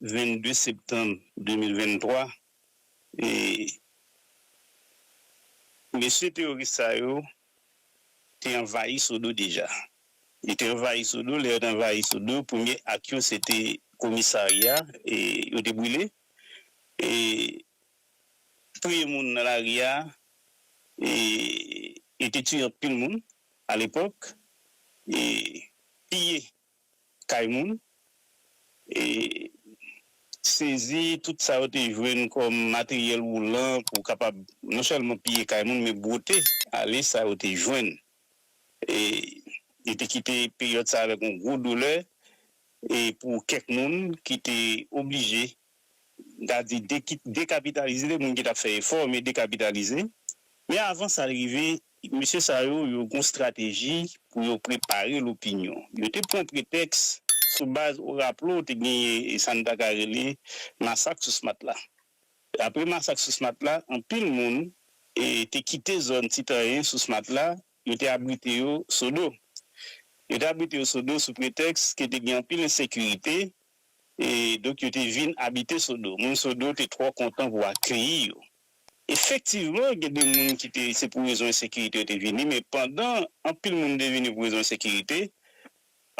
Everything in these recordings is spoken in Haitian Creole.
22 septanm 2023, mesye teworis sa yo te anvayi Sodo deja. Yo te anvayi Sodo, lè yo te anvayi Sodo, premye ak yo se te komisarya yo te boule, touye moun nan lari a, yo te tiye anpil moun alepòk, piye kay moun e sezi tout sa yo te jwenn kòm materyèl woulan pou kapab non sèlman piye kay moun men bwote ale sa yo te jwenn e yo te kite peryòd sa avèk yon gwo doulè e pou kèk moun ki te oblije m ta di dekapitalize moun ki t ap fè efò men dekapitalize men avan sa rive mesye sa yo yo gen yon estrateji pou yo prepare lopinyon yo te pran pretèks sou baz ou raple w te genyen sa n ta ka rele masak sous matla apre masak sous matla anpil moun te kite zòn ti tanyen sous matla Yo te abrite yo Sodo. Yo te abrite yo Sodo sou pretèks ke te gen anpil ensekirite, e donk yo te vin abite Sodo. Moun Sodo te twò kontan pou akeyi yo. Efektivman, gen de moun ki te se pou rezon ensekirite yo te vini, men pandan anpil moun te vini pou rezon ensekirite,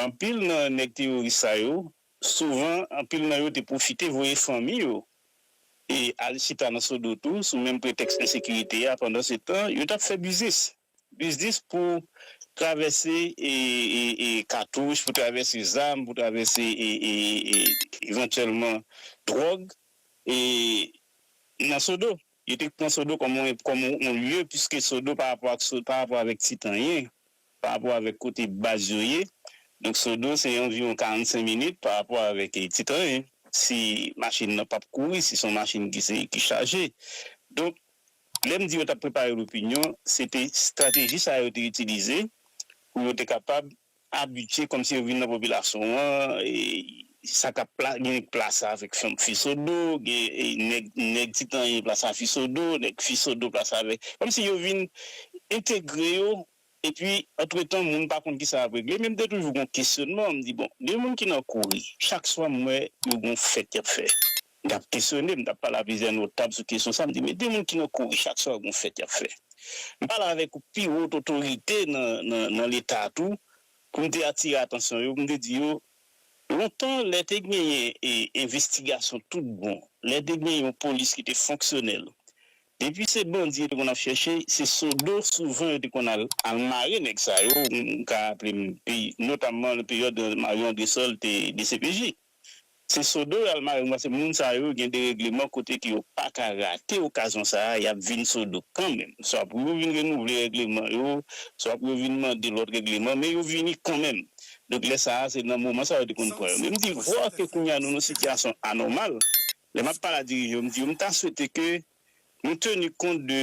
anpil nan nèg teyoris sa yo Souvan, anpil nan yo te pwofite voye fanmi yo e al chita nan Sodo tou sou menm pretèks ensekirite a. Pandansetan, yo t ap fè biznis. Biznis pou travèse katouch, pou travèse zam, pou travèse evantyèlman dwòg nan Sodo. Yo te pran Sodo kòm yon lye, piske Sodo pa rapò avèk Tit anyen. pa rapò avèk kote baz yo ye, donk Sodo se anviwon 45 minit pa rapò avèk Titlayen, si machin nan pap kouri, si se yon machin ki se, ki chaje. Donk, lè m di yo t ap prepare lopinyon, se te estrateji sa yo te itilize pou yo te kapab abitye, kòmsi yo vin nan popilasyon an, Sa kap pla gen nèg plasa avèk fanm fisodo gen nèg nèg ti tanyen plasa fisodo nèg fisodo plasa avèk kòmsi yo vin entegre yo epi antretan moun pa konn kisa yap regle men m te toujou gon kesyonman m di bon gen moun ki nan kouri chak swa m wè yo gon fèt yap fè m tap kesyone m tap pale a plizyè notab sou kesyon sa m di men gen moun ki nan kouri chak swa gon fèt yap fè m pale avèk pi wo otorite nan nan leta tou pou m te atire atansyon yo pou m te di yo Lontan, lè te genyen envestigasyon tout bon, lè te gen yon polis ki te fonksyonèl, depi se bandi yo te konn ap chèche, se Sodo souvan yo te konn al al mare nèg sa yo, m ka raple m notamman nan peryòd Mario Andresol te dcpj. Se Sodo yo al mare yo paske moun sa yo gen deregleman kote ke yo pa ka rate okazyon sa a, y ap vin Sodo kanmenm. Swa pou yo vin renouvle regleman yo, swa pou yo vin mande lòt regleman, men yo vini kanmenm. Donk lè sa a, se nan moman sa yo te konn pran yo. Men m di, vwa ke kounye a nou nan yon sitiyasyon anòmal, lè m ap pale a dirijan yo, m di yo m ta swete ke nou teni kont de,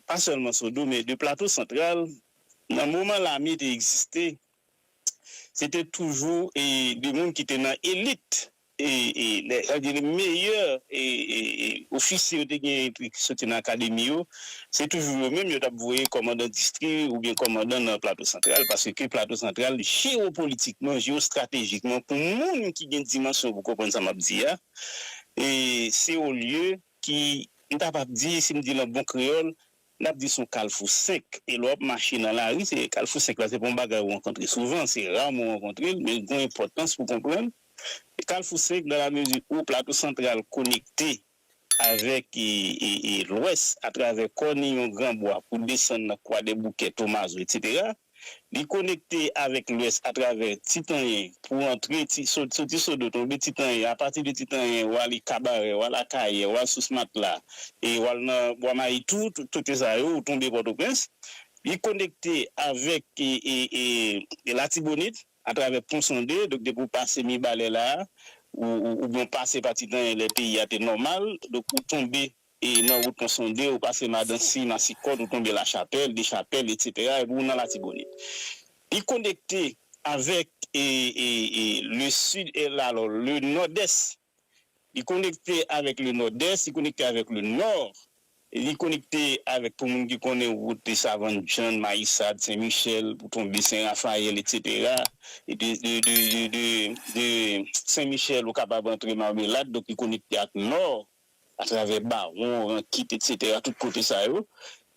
pa sèlman Sodo, men de Plato Santral, nan moman lame te egziste, se te toujou de moun ki te nan elit e lè an gen de meyè ofisye yo te gen epi ki soti nan akademi yo, se toujou yo menm yo tap voye kòmandan distri oubyen kòmandan nan Plato Santral paske Plato Santral jewopolitikman, jewostratejikman pou moun ki gen dimansyon pou konprann sa map di a se yon lye ki m kapab di si m di l an bon kreyòl N ap di s on kalfou 5, e lè w ap mache nan lari, se kalfou 5 la se pa yon bagay ou rankontre souvan, se raman ou rankontre l, men l gen yon enpòtans pou konprann. Kalfou 5, dan lamezi ou Plato Santral konekte avèk Lwès atravè Kòniyon, Gran Bwa, pou desann nan Kwadèboukè, Tomazo, etsetera, Li konekte avèk lwès atravè Ti Tanyen pou antre Ti, soti Sodo tonbe Ti Tanyen, apati de Ti Tanyen ou ale Kabarè, ou al Akayè, ou al Sous Matla e ou al nan Bwa Mayi tou, tout kote sa yo ou tonbe Pòtoprens. Li konekte avèk Latibonit atravè Pon Sonde, donk depi ou pase Mibalè la a, ou oubyen ou pase pa Ti Tanyen lè peyi a te nòmal, donk ou tonbe E nan wout Ponsonde, ou pase Madansi, Masikòt, ou tonbe Lachapèl, Dechapèl, etsetera, epi ou nan Latibonit. Li konekte avèk le Sid, alo, le Nòdès. Li konekte avèk le Nòdès, li konekte avèk le Nò, li konekte avèk, pou moun ki konnen wout Savann Djann, Mayisad, Sen Michèl, pou tonbe Sen Rafayèl, etsetera. E de Sen Michèl, ou kapab antre Marmelad, donk li konekte ak Nò. atravè Bawon, Rankit, etsetera, tout kote sa yo.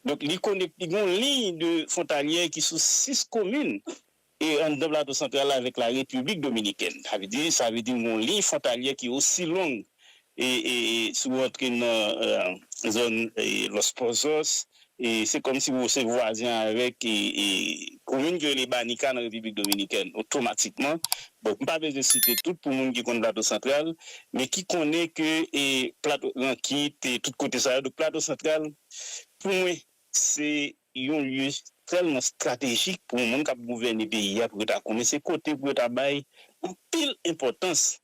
Donk li konekte, li gen yon liy de fwontalyè ki sou 6 komin e anndan Plato Santral la avèk la Repiblik Dominikèn. Sa vle di, sa vle di nou gen yon liy fwontalyè ki osi long e, e, e si w rantre nan zòn Los Pozos, Se kòm si ou se vwazen avèk komin ki rele Banica nan Repiblik Dominikèn otomatikman. Bon, m pa bezwen site tout pou moun ki konn Plato Santral, men ki konnen ke Plato, Rankit, tout kote sa yo. Donk Plato Santral pou mwen se yon lye tèlman estratejik pou moun k ap gouvène peyi a pou yo ta konnen. Se kote pou yo ta bay anpil enpòtans.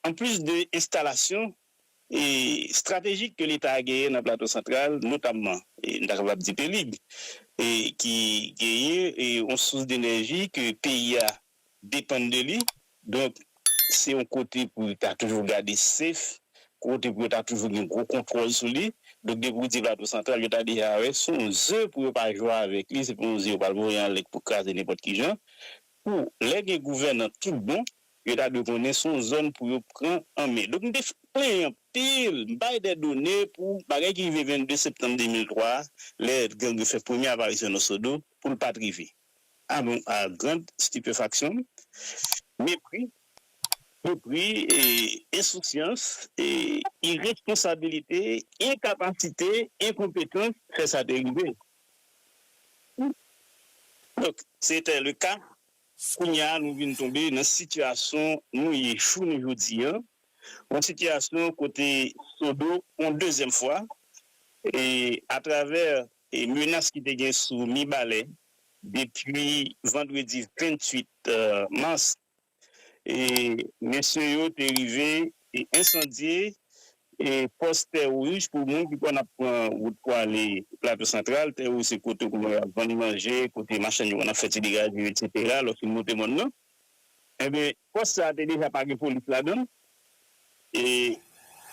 anplis de enstalasyon estratejik ke Leta a genyen nan Plato Santral, notamman, m ta kapab di Pelig, ki genyen yon sous denèji ke peyi a depann de li, donk se yon kote pou yo ta toujou gade sef, kote pou yo ta toujou gen gwo kontwòl sou li. Donk depi ou di Plato Santral, yo ta deja wè se yon ze pou yo pa jwe avèk li, se pa yon ze yo pral voye anlè pou kraze nenpòt ki jan. Pou lè gen gouvènan tout bon, yo ta dwe konnen se yon zòn pou yo pran an men. Donk m te plenyen anpil, m bay de done pou bagay ki rive 22 septanm 2003 a, lè gang yo fè premye aparisyon nan Sodo, pou l pa t rive. A bon, a grand stipefaksyon m, mepri, mepri, ensousyans, iresponsabilite, enkapasite, enkonpetans fè sa te rive. Donk, se te le ka. Kounye a nou vin tonbe nan sitiyasyon nou ye jounen jodi an, yon sitiyasyon kote Sodo yon dezyèm fwa, atravè menas ki te gen sou Mibalè depi vandredi 28 mas mesye yo te rive ensandye pòs tè wouj pou moun ki konn ap pran wout pou ale Plato Santral. Tè wouj se kote kounye a y ap vann manje, kote machann yo konn ap fè ti degaje yo eksetera lòske monte mòn nan. Enben, pòs sa a te deja pa gen polis ladan l e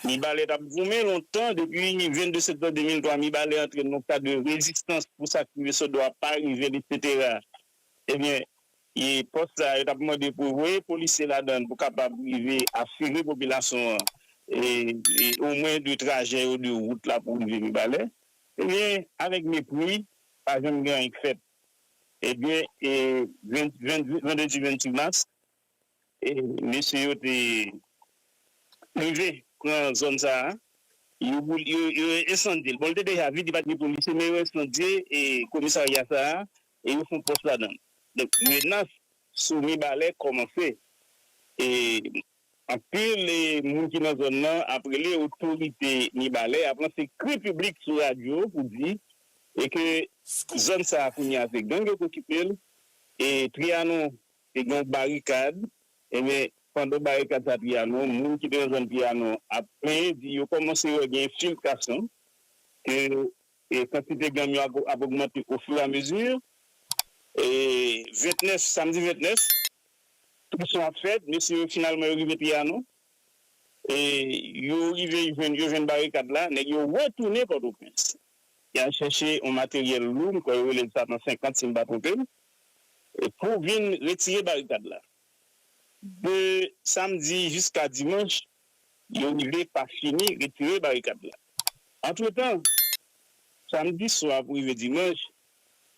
Mibalè t ap goumen lontan. Depi 22 septanm 2003, Mibalè antre nan yon kad de rezistans pou sa k rive sot do a pa rive l eksetera. Enben, E pòs sa yo t ap mande pou voye polisye ladan l pou kapab rive asire popilasyon an omwen de trajè yo de wout la pou rive Mibalè. Ebyen avèk mepri pa janm gen anyen k fèt. Ebyen e vandredi 28 mas mesye yo te rive pran zòn sa a yo esandye l. Bon l te deja vid li pa t gen polisye men yo esandye komisarya sa a e yo fon pòs ladann donk menas sou mibalè kòmanse e anpil moun ki nan zòn nan ap rele otorite mibalè ap lanse kri piblik sou radyo pou di e ke zòn sa kounye a se gang yo k okipe l e triyanon te gen yon barikad ebyen pandan barikad sa triyanon moun ki te nan zòn triyanon ap plenyen di yo kòmanse wè gen enfiltrasyon ke E kantite ganm yo ap ogmante ofiramezi. E 29, samdi 29, prizsyon ap fèt. Mesye yo finalman yo rive Tiyano. E yo rive jwenn yo jwenn barikad la. Nèg yo retounen Pòtoprens. Y al chèche yon materyèl lou, m kwè yo rele l sa nan 50 si m pa twonpe m, pou vin retire barikad la. De samdi jiska dimanch, yo rive pa fini retire barikad la. Antretan, samdi swa pou rive dimanch,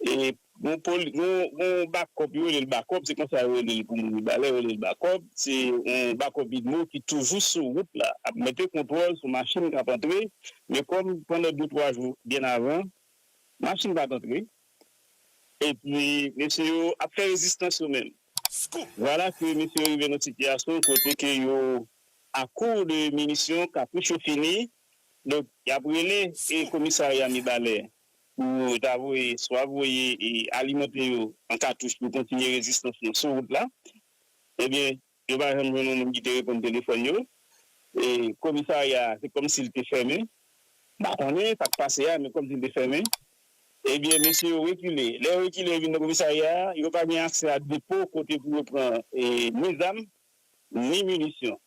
yon bakòp, yo rele l bakòp, se konsa yo rele l pou moun Mibalè, yo rele l bakòp, se yon bakòp idmo ki toujou sou wout la ap mete kontwòl sou machin k ap antre, men kòm pandan de twa jou byen avan, machin pa t antre. epi mesye yo ap fè rezistans yo menm. Vwala ke mesye yo rive nan sitiyasyon kote ke yo a kour de minisyon, kapouch yo fini, donk y ap rele komisarya Mibalè pou yo ta voye swa voye alimante yo an katouch pou kontinye rezistans yo sou wout la. Ebyen, Yo pa janm jwenn yon moun ki te reponn telefòn yo e komisarya a se kòmsi li te fèmen. M pa konnen sa k pase a men kòmsi li te fèmen. Ebyen mesye yo rekile. Lè yo rekile yo vin nan komisarya a, yo pa gen aksè a depo kote pou yo pran ni zam ni minisyon.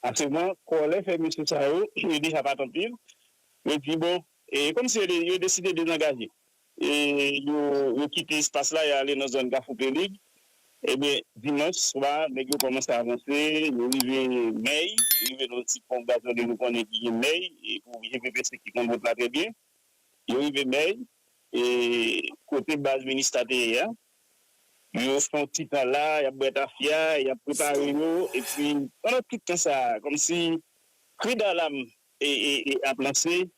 Aktyèlman kòlè fè mesye sa yo, yo deja pa tann viv, yo di bon e kòmsi yo deside dezangaje. Yo kite espas la, yo ale nan zòn Kafou Pelig. Ebyen, dimanch swa, nèg yo kòmanse avanse, yo rive Mèy, yo rive nan yon ti pon gazole nou konnen ki gen Mèy, pou je pepese ki konn wout la trè byen. Yo rive Mèy, kote baz Minista te ye a. Yo fè yon ti tan la, y ap bwè tafya, y ap prepare yo. Epi, pandan tout tan sa a, kòmsi kri dalam ap lanse,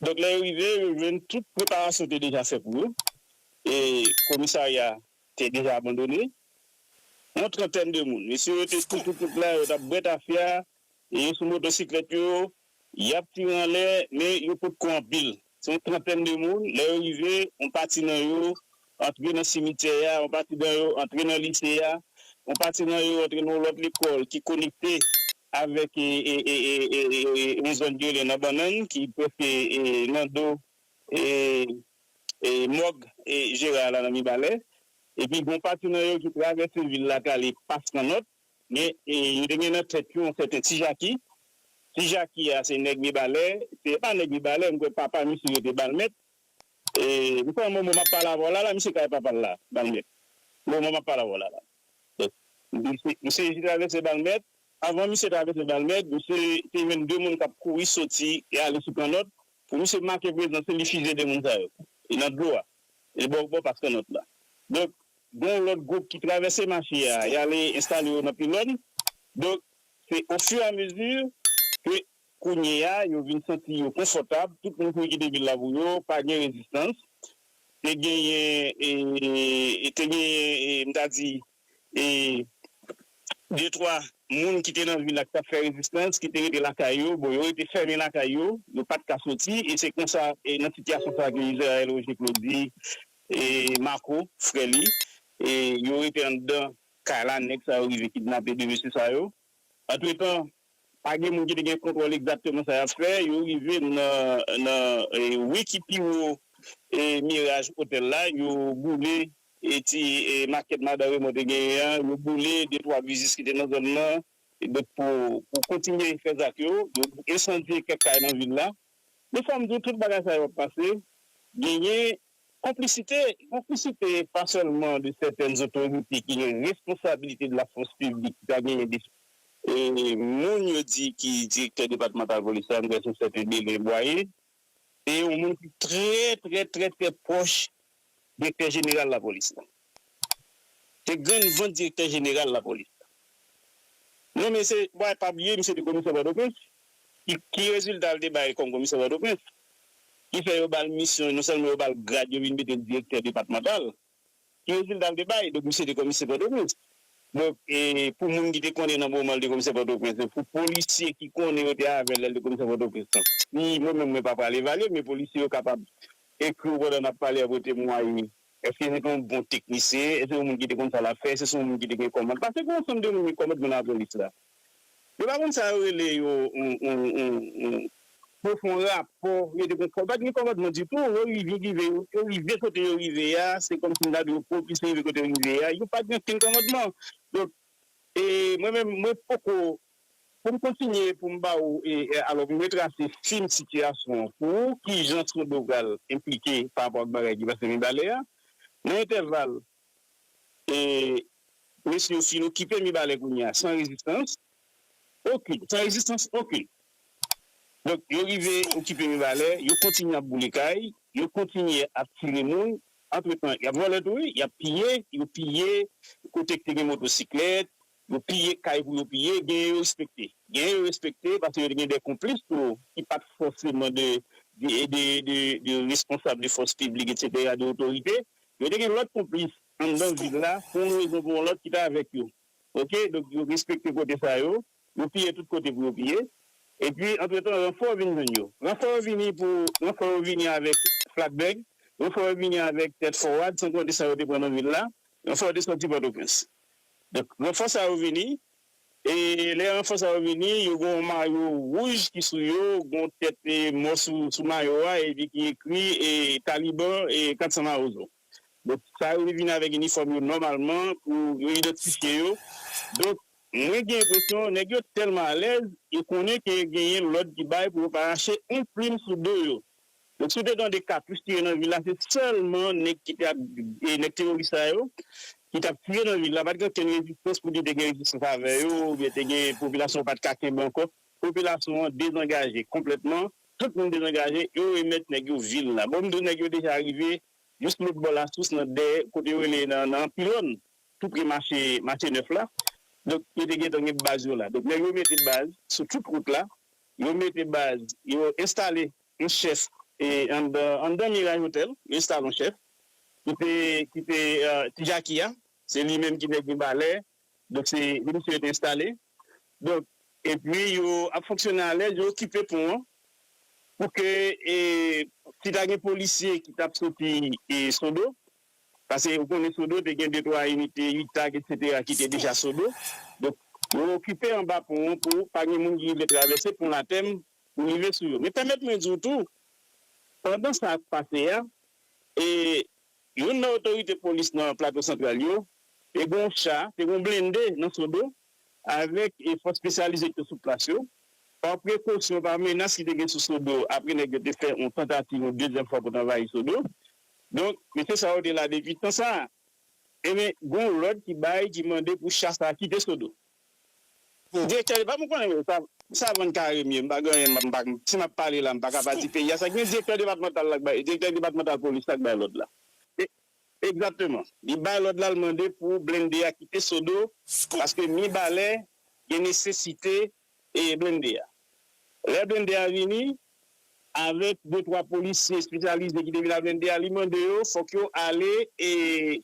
Donk lè yo rive, yo jwenn tout preparasyon te deja fè pou yo e komisarya a te deja abandone. Yon trantèn de moun, mesye yo te tou tou tout la, yo t ap bwè tafya, yo sou motosiklèt yo, y ap tire anlè men yo potko anpil. Se yon trantèn de moun, lè yo rive, yon pati nan yo Antre nan simityè a, yon pati nan yo antre nan lise a, yon pati nan yo antre nan yon lòt lekòl ki konekte avèk Maison Dieulen nan Bannann ki prèske nan do mòg Jera la nan Mibalè. Epi gen yon pati nan yo ki travèse vil la ki ale Pas Kanòt. Men, yo te gen nan tèt yo yon sèten Ti Jaki. Ti Jaki a se nèg Mibalè, se pa nèg Mibalè, m kwè papa misye yo te ba l mèt. Eeh mkonn moman map pale avèw la la misye kay papal la balmèt moman map pale avèw la la misye te travèse balmèt avan misye travèse balmèt misye te jwenn 2 moun kap kouri soti e ale sou kannòt pou misye make prezans li li fizye 2 moun sa yo e nan dlo a e bò bò pas kannòt la donk gen yon lòt gwoup ki travèse mache a yale enstale yo nan pilòn donk se o fur a mezi ke Kounye a, yo vin santi yo konfòtab, tout moun kouri kite vil la pou yo, pa gen rezistans. Te genyen, te genyen, m ta di, de twa moun ki te nan vil la ki t ap fè rezistans, ki te rete lakay yo. Bon, yo rete fèmen lakay yo, yo pa t ka soti. E se kon sa, e nan sitiyasyon sa a ke Israël Roger Claude di Marco, frè li, yo rete anndan kay la, nèg sa yo rive kidnape de mesye sa yo. Antretan, pa gen moun ki te gen kontwòl egzakteman sa y ap fè. Yo rive nan ri ki pi wo Miraj Otèl la, yo boule ti makèt Madan Remon te genyen an, yo boule detwa biznis ki te nan zòn nan pou kontinye fè zak yo. Yo ensandye kèk kay nan vil la. Men fò m di w tout bagay sa yo ap pase, genyen konplisite, konplisite pa sèlman de sètèn zotorite ki gen responsabilite de la fòs piblik ki ta genyen de moun yo di ki direktè depatmantal polis la, m kwè se sèten Belin Bwaye. Se yon moun ki trè trè trè trè pwòch Direktè Jeneral Lapolis la. Se grenn vant Direktè Jeneral Lapolis la. Non men se bay pa bliye misye te Komisè Pòtoprens. Ki rezilta li te bay kòm Komisè Pòtoprens? Ki fè yo ba l misyon, non sèlman yo ba l grad yo vin mete l Direktè Depatmantal. Ki rezilta li te bay? Donk misye te Komisè Pòtoprens. Donk pou moun ki te konnen nan moman li te Komisè Pòtoprens lan, pou polisye ki konnen yo te avè l lè li te Komisè Pòtoprens lan. Ni mwen menm mwen pa pral evalye l men polisye yo kapab Ekri w pandan n ap pale apre temwaye. Èske se te yon bon teknisyen? Èske se te yon moun ki te konn sa l ap fè? Èske se te yon moun ki te gen kòmand? Pase gen yon ansanm de moun gen kòmand men nan lapolis la. Yo pa konn sa yo rele yo yon pwofon rapò. Yo te gen kòmand. Pa t gen kòmandman ditou. Yo rive rive. Yo rive kote yo rive a. Se kòmsi m ta di yo pwopise rive kote yo rive a. Yo pa t gen okenn kòmandman. Donk, e mwen menm, mwen poko Pou m kontinye pou m ba ou e alò m retrase fil sitiyasyon an pou ou kijan Tchodogal enplike pa rapò ak bagay ki pase Mibalè a. Nan entèval e mesye yo fin okipe Mibalè kounye a san rezistans okun, san rezistans okun. Donk yo rive okipe Mibalè, yo kontinye ap boule kay, yo kontinye ap tire moun, antretan y ap vòlè tou wi, y ap piye, yo piye kote k te gen motosiklèt, Yo piye kay pou yo piye, genyen yo respekte. Genyen yo respekte paske yo te gen de konplis tou ki pa t fòseman de de responsab de fòs piblik etsetera, de otorite. Yo te gen lòt konplis anndan vil la pou yon rezon pou yon lòt ki te avèk yo. Ok, donk yo respekte kote sa yo. Yo piye tout kote pou yo piye. Epi antretan ranfò vin jwenn yo. Ranfò yo vini pou ranfò yo vini avèk flakbèg. Ranfò yo vini avèk tèt fowad san konte sa yo te pran nan vil la. Ranfò yo te sòti Pòtoprens. Donk ranfò sa yo vini e lè ranfò sa yo vini yo gen yon mayo wouj ki sou yo, gen yon tèt mò sou mayo a epi ki ekri Taliban 400 mawozo. Donk sa yo te vini avèk inifòm yo nòmalman pou yo idantifye yo. Donk mwen gen enpresyon nèg yo tèlman alèz yo konnen ke genyen lòd ki bay pou yo pa rache yon plim sou do yo. Donk si w te tande ka plis tire nan vil la se sèlman nèg ki te ap nèg teworis sa yo ki t ap tire nan vil la pat gen okenn rezistans pou di te gen rezistans avè yo oubyen te gen popilasyon pat ka kenbe ankò popilasyon an dezangaje konplètman tout moun dezangaje yo remèt nèg yo vil la bon m di w nèg yo deja rive jis lòt bò lasous nan dèyè kote yo rele nan pilòn tou pre mache mache nèf la donk yo te gentan gen baz yo la donk nèg yo mete baz sou tout wout la. Yo mete baz, yo enstale yon chèf anndan Mirage Hotel, yo enstale yon chèf ki te ki te ti Jaki a, se li menm ki nèg Mibalè, donk se li misye yo te enstale. Donk epi yo ap fonksyone alèz, yo okipe pon an pou ke si ta gen polisye ki t ap soti Sodo, Pase ou konnen Sodo te gen de twa inite Itag etc ki te deja Sodo. Donk yo okipe anba pon an pou pa gen moun ki rive travèse pon Latèm pou rive sou yo. Men pèmèt mwen di w tou, pandan sa ap pase a, e youn nan otorite polis nan Plato Santral yo, te gen yon cha, te gen yon blende nan Sodo avèk fòs spesyalize ki te sou plas yo. Pa prekosyon, pa menas ki te gen sou Sodo apre nèg yo te fè yon tantativ yon dezyèm fwa pou t anvayi Sodo, Donk, mesye sa yo te la depi tan sa a. Enben, gen yon lòd ki bay ki mande pou cha sa a kite Sodome. Direktè depa, mwen konnen yo savan kare mye, m pa gen anyen m pa ka, si m ap pale la m pa ka pa di peyi a sa ki gen direktè depatmantal la k bay, direktè depatmantal polis la k bay lòd la. Egzakteman. Li bay lòd la, l mande pou blende a kite Sodo paske Mibalè gen nesesite e blende a. Lè blende a vini, avèk de twa polisye espesyalize ki te vin ak blende a, li mande yo fòk yo ale e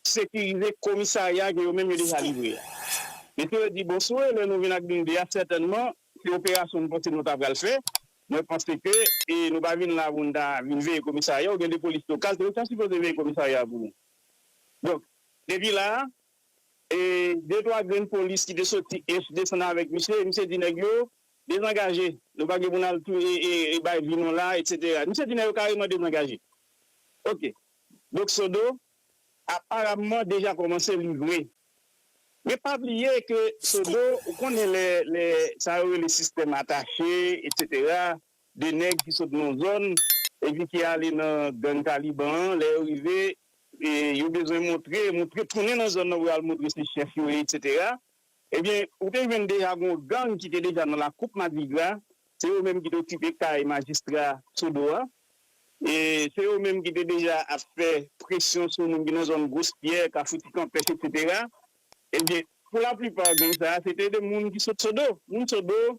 sekirize komisarya ke yo menm yo deja livre a. Mesye yo di, bon, si w rele nou vin ak blende a, sètènman, se operasyon nou panse nou ta pral fè. Mwen panse ke nou pa vin la pou nou ta vin veye komisarya. Ou gen de polis lokal tou, yo ta sipoze veye komisarya a pou nou. Donk, depi la a, E de twa grenn polis ki te soti ench desann avèk misye, misye di nèg yo, Dezangaje, nou pa gen pou n al touye, bay vi nou la, etsetera. Misye di nèg yo kareman dezangaje. Ok. Donk Sodo, aparamman deja kòmanse livre. Men pa bliye ke Sodo, ou konnen lè sa yo rele sistèm atache, etsetera, 2 nèg ki sot nan yon zòn epi ki ale nan gang Taliban an, lè yo rive yo bezwen montre, montre tounen nan zòn nan pou yo al montre se chèf yo ye eksetera, ebyen ou te jwenn deja gen yon gang ki te deja nan lakoup madigra, se yo menm ki te okipe kay majistra Sodo a, se yo menm ki te deja ap fè presyon sou moun ki nan zòn Gros Pyè, Kafou Ti Kanpès eksetera, ebyen pou laplipa gang sa a se te 2 moun ki sot Sodo, moun Sodo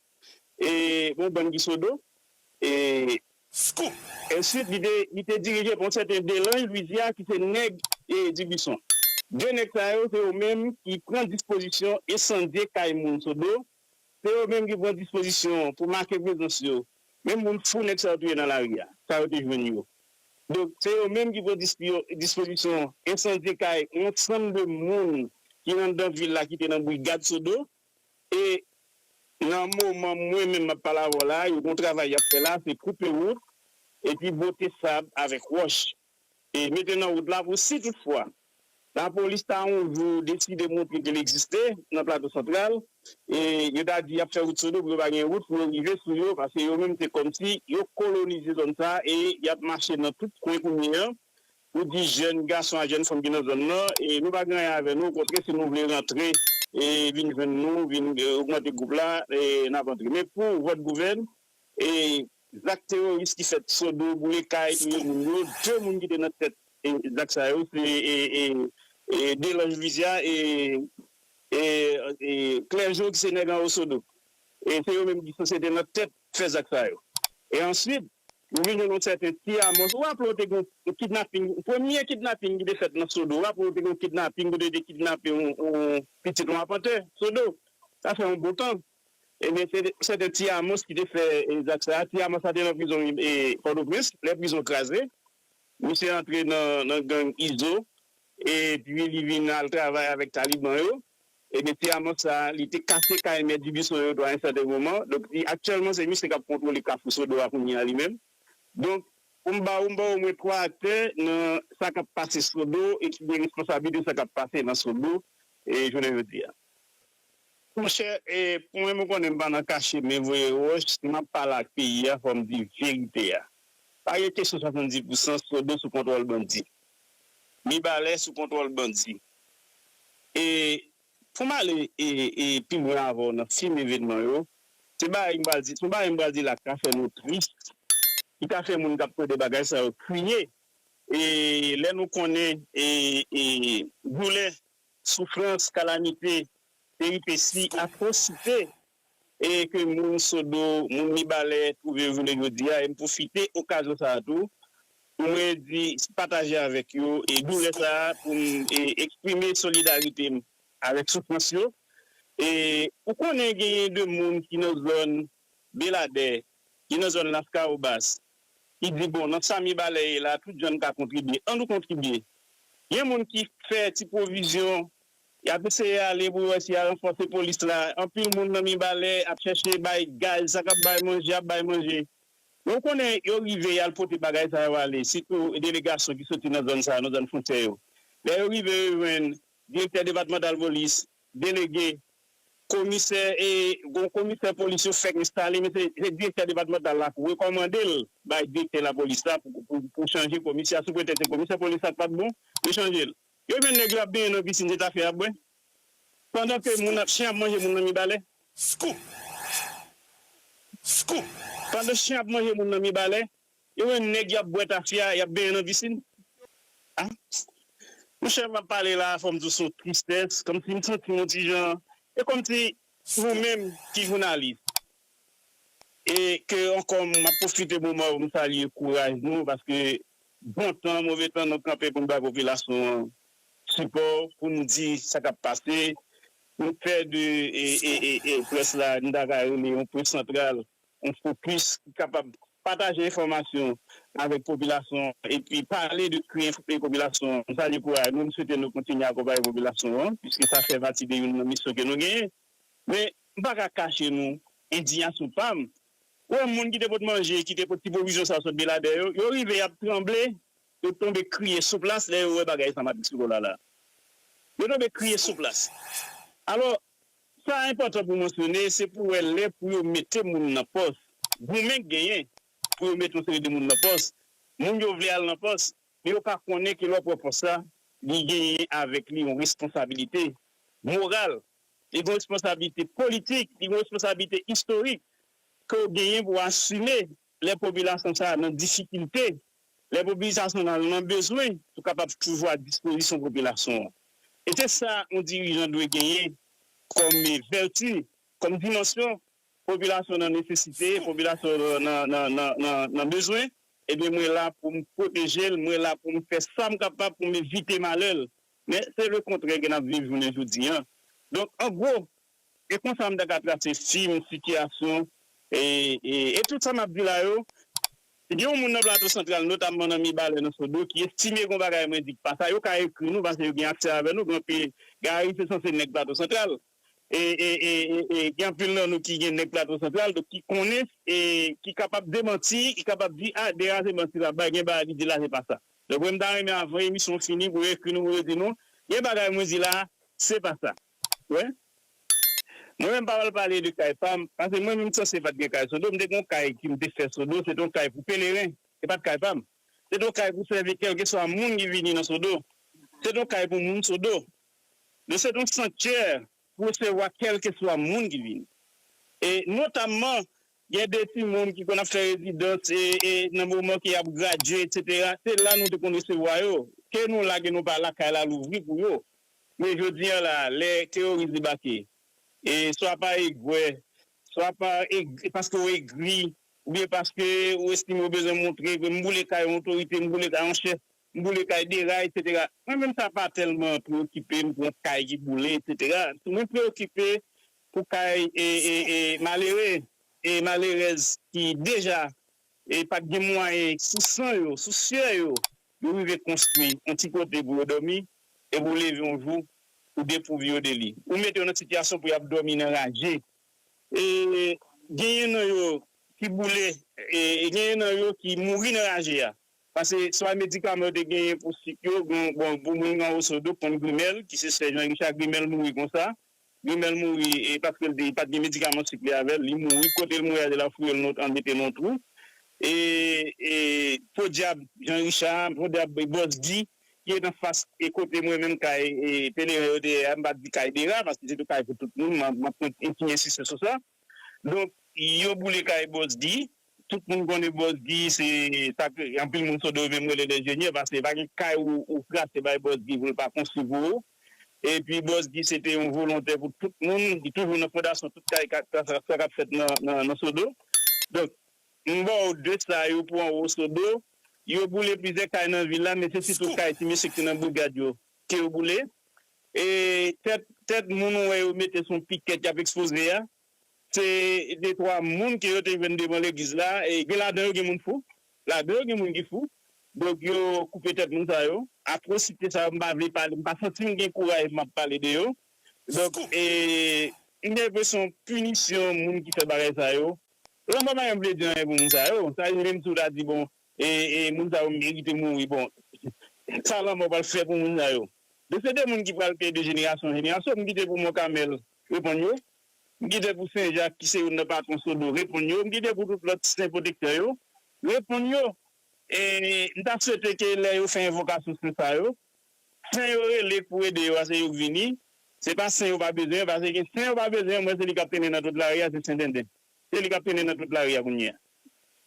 E yon bann gisodo. E. Scoop! Ensuite, li te, li te dirije pa yon sèten Delange Louisiard ki se nèg e Dubuisson. De nèg sa yo, se yo menm ki pran dispozisyon ensandye kay moun Sodo, se yo menm ki pran dispozisyon pou make prezans yo, menm moun fou nèg sa yo touye nan lari a, sa yo te jwenn yo. Donk, se yo menm ki pran dispio, dispozisyon ensandye kay yon ansanm de moun ki anndan vil la ki te nan brigad Sodo. E nan moman mwen menm m ap pale avè w la a, yon gwo travay y ap fè la a, se koupe wout epi bwote sab avèk wòch e mete nan wout la pou si tout fwa lapolis ta yon jou deside montre ke l egziste nan Plato Santral e yo ta di y ap fè wout Sodo pou yo pa gen wout pou yo rive sou yo paske yo menm se kòmsi yo kolonize zòn sa a e y ap mache nan tout kwen kounye an Nou di jèn gason ak jèn fanm ki nan zòn nan, nou pa gen anyen avè nou, okontrè si nou vle rantre vin jwenn nou, vin ogmante gwoup la, n ap antre. Men pou vòt gouvèn e zak teworis ki fèt, Sodo, boule kay, touye moun yo, 2 moun ki te nan tèt zak sa yo se Delanj Lwizya e Klèjo ki se nèg anwo Sodo. Se yo menm ki sanse te nan tèt fè zak sa yo. E answit, nou vin jwenn yon sèten Ti Amos. Ou raple w te gen yon kidnaping, premye kidnaping ki te fèt nan Sodo. Ou raple w te gen yon kidnaping kote yo te kidnape yon pitit yon apantè Sodo. Sa fè yon bon tan. Ebyen, se te sèten Ti Amos ki te fè zak sa a. Ti Amos la te nan prizon Pòtoprens lè prizon kraze. Misye antre nan gang Izo epi li vin al travay avèk Taliban yo. E mesye Amos sa a, li te kase kay Mèt Dibison yo tou a yon sèten moman. Donk, aktyèlman se misye k ap kontwole Kafou Sodo a kounye a li menm. Donk, pou m ba ou, m ba ou omwen twa aktè nan sa k ap pase Sodo e ki gen responsablite sa k ap pase nan Sodo jounen jodi a. Monchè e pou mwen mwen konnen m pa nan kache men voye wòch si map pale ak peyi a fò m di verite a pa gen kesyon 70 pou san sodo sou kontwòl bandi mibalè sou kontwòl bandi e pou m ale e pi lwen avè w nan fim evenman yo se bagay m pral di se yon bagay m pral di la ki ka fè nou tris ki ka fè moun kap tande bagay sa yo kriye e lè nou konnen e doulè Soufrans, kalamite, peripesi, atwosite e ke moun Sodo, moun Mibalè twouve yo jounen jodi a e m pwofite okazyon sa a tou pou mwen di pataje avèk yo e doulè sa a pou m e eksprime solidarite m avèk soufrans yo e ou konnen genyen de moun ki nan zòn Beladè, ki nan zòn Laskawobas, ki di bon nan sa Mibalè ye la tout jan n ka kontribye an nou kontribye. Gen moun ki fè ti pwovizyon, y ap eseye ale pou yo wè si y a ranfòse polis la. Anpil moun nan Mibalè ap chèche bay gaz, sa k ap bay manje ap bay manje. Men ou konnen yo rive y al pote bagay sa yo ale, sitou delegasyon ki soti nan zòn sa yo, nan zòn fwontyè yo. Lè yo rive yo jwenn direktè depatmantal polis, Delege komisè e gon komisè polis yo fèk enstale men se direktè depatmantal la k rekòmande l bay direktè lapolis la pou chanje komisè a sou pretèks se komisè polis la k pat bon yo chanje l yo jwenn nèg yo ap benyen nan pisin se ta fè ap bwè pandan ke moun ap chen ap manje moun nan mibalè Scoop Scoop pandan chen ap manje moun nan mibalè Yo menm nèg yap bwè tafya yap benyen nan pisin ah monchè map pale la fòm diw son tristès kòmsi m santim yon ti jan e kòmsi nou menm ki jounalis e ke ankò map pwofite moman poum salye kouraj nou paske bon tan move tan nou kanpe poun bay popilasyon an sipò poun di sa kap pase nou fè de près la nou ta ka rele yon près santral yon fokis ki kapab pataje enfòmasyon avèk popilasyon an epi pale de kri enfòme popilasyon an. M salye kouraj nou, m swete nou kontinye akonpaye popilasyon an piske sa fè pati de youn nan misyon ke nou genyen. Men, m pa ka kache nou endiyasyon pa m. Ou wè moun ki te pot manje, ki te pot ti pwovizyon sa sot Beladè yo, yo rive y ap tranble, yo tonbe kriye sou plas lè yo wè bagay San Patrik Sikola la. Yo tonbe kriye sou plas. Alò, Sa enpòtan pou mansyone, se pou wè lè pou yo mete moun nan pòs, goumen k genyen pou yo mete yon seri de moun nan pòs, moun yo vle al nan pòs, men yo pa konnen ke lè w ap pran pòs la, li genyen avèk li yon responsabilite moral, li gen yon responsabilite politik, li gen yon responsabilite istorik ke w genyen pou w asime Lè popilasyon sa a nan difikilte, lè popilisasyon nan nan bezwen, ou kapab toujou a dispozisyon popilasyon an. E se sa yon dirijan dwe genyen kòm vèti, kòm dimansyon, popilasyon nan nesesite, popilasyon nan bezwen, ebyen mwen la pou m pwoteje l, mwen la pou m fè sa m kapab pou m evite malè l. Men se lekontrè ke n ap viv jounen jodi an. Donk, an gwo, E konsa m ta ka trase fim, sitiyasyon, e tout sa m ap di la yo. Gen yon moun nan Plato Santral, notamman nan Mibalè, nan Sodo, ki estime gen yon bagay mwen di k pa sa. Yo ka ekri nou, paske yo gen aksè avè nou. Gen anpil, Gari se sanse nèg Plato Santral. E gen anpil nan nou ki gen nèg Plato Santral, donk ki konnen, e ki kapab demanti, ki kapab di, a, Dera se manti l ap bay, gen bagay li di la se pa sa. Donk mwen m ta renmen avan emisyon fini pou yo ekri nou, pou yo di nou, gen bagay mwen di la, se pa sa. Wè Mwen menm m pa pral pale de kay pam pase mwen menm sanse pat gen kay sodo m te gen yon kay ki m te fè sodo se te yon kay pou peleren se pat kay pam se te yon kay pou sèvi kèlkeswa moun ki vini nan sodo se te yon kay pou moun sodo donk se te yon sanktyè pou resevwa kèlkeswa moun ki vini e notamman Gen de timoun ki konn ap fè rezidans e nan moman ke yap gradye etc. Se la nou te konn resevwa yo. Ke nou la ke nou pa la, kay la louvri pou yo. Men jodi an la, lè teyoris debake, e swa pa egwè, swa pa e, paske ou egri, oubyen paske ou estime ou bezwen montre ke m boule kay yon otorite, m boule kay yon chèf, M boule kay Dera etc. Mwen menm sa pa tèlman preokipe m pou kay ki boule etc. Mwen preokipe pou kay malere e malerèz ki deja pat gen mwayen sou san yo, sou syè yo, yo rive konstwi yon ti kote pou yo dòmi epi ou leve yon jou ou depouvi yo de li. Ou mete yo nan sitiyasyon pou y ap dòmi nan raje. E genyen nan yo ki boule e genyen nan yo ki mouri nan raje a. Pase swa medikaman yo te genyen pou sik yo, bon pou moun anwo Sodo k konn Grimèl ki se sè Jan Richa, Grimèl mouri konsa. Grimèl mouri e paske li pat gen medikaman sik li avè l, li mouri. Kote l mouri a, yo la fouye l nan an mete l nan twou. E podyab Jan Richa, podyab Bòs Gi ki ret anfas e kote mwen menm kay Peleren yo te ye a, m pa di kay Dera paske se te kay pou tout moun, m ap kontinye ensiste sou sa. Donk yo boule kay Boss D. Tout moun konnen Boss D se sa ke anpil moun Sodo yo menm rele lenjenyè paske pa gen kay ou kraze bay Boss D pou l pa konstwi pou ou. Epi Boss D se te yon volontè pou tout moun. Li toujou nan fondasyon tout kay kap sa kap fèt nan Sodo. Donk m ba w de sa yo pou anwo Sodo. Yo boule plizyè kay nan vil la men se sitou kay ti mesye ki te nan brigad yo. Ke yo boule. E tèt tèt moun ou wè yo mete sou pikèt y ap ekspoze a, se detwa moun ke yo te jwenn devan legliz la. E gen ladan yo gen moun fou. Ladan yo gen moun ki fou. Donk yo koupe tèt moun sa yo. Atwosite sa yo m pa vle pale, m pa santi m gen kouraj m ap pale de yo. Donk e m gen enpresyon pinisyon moun ki fè bagay sa yo. Lanmò pa janm vle di anyen pou moun sa yo. Sa rive m tou ta di bon Moun sa yo merite mouri bon sa lanmò pral fè pou moun sa yo de se de moun ki pral peye de jenerasyon an jenerasyon m kite pou monkamèl reponn yo m kite pou senjak ki se youn nan patwon sodo reponn yo m kite pou tout lòt sen pwotektè yo reponn yo m ta swete ke lè yo fè envokasyon sen sa yo sen yo rele pou ede yo a se yo k vini se pa sen yo pa bezwen pase gen sen yo pa bezwen m wè se li k ap trennen nan tout lari a se sendenden se li k ap trennen nan tout lari a kounye a.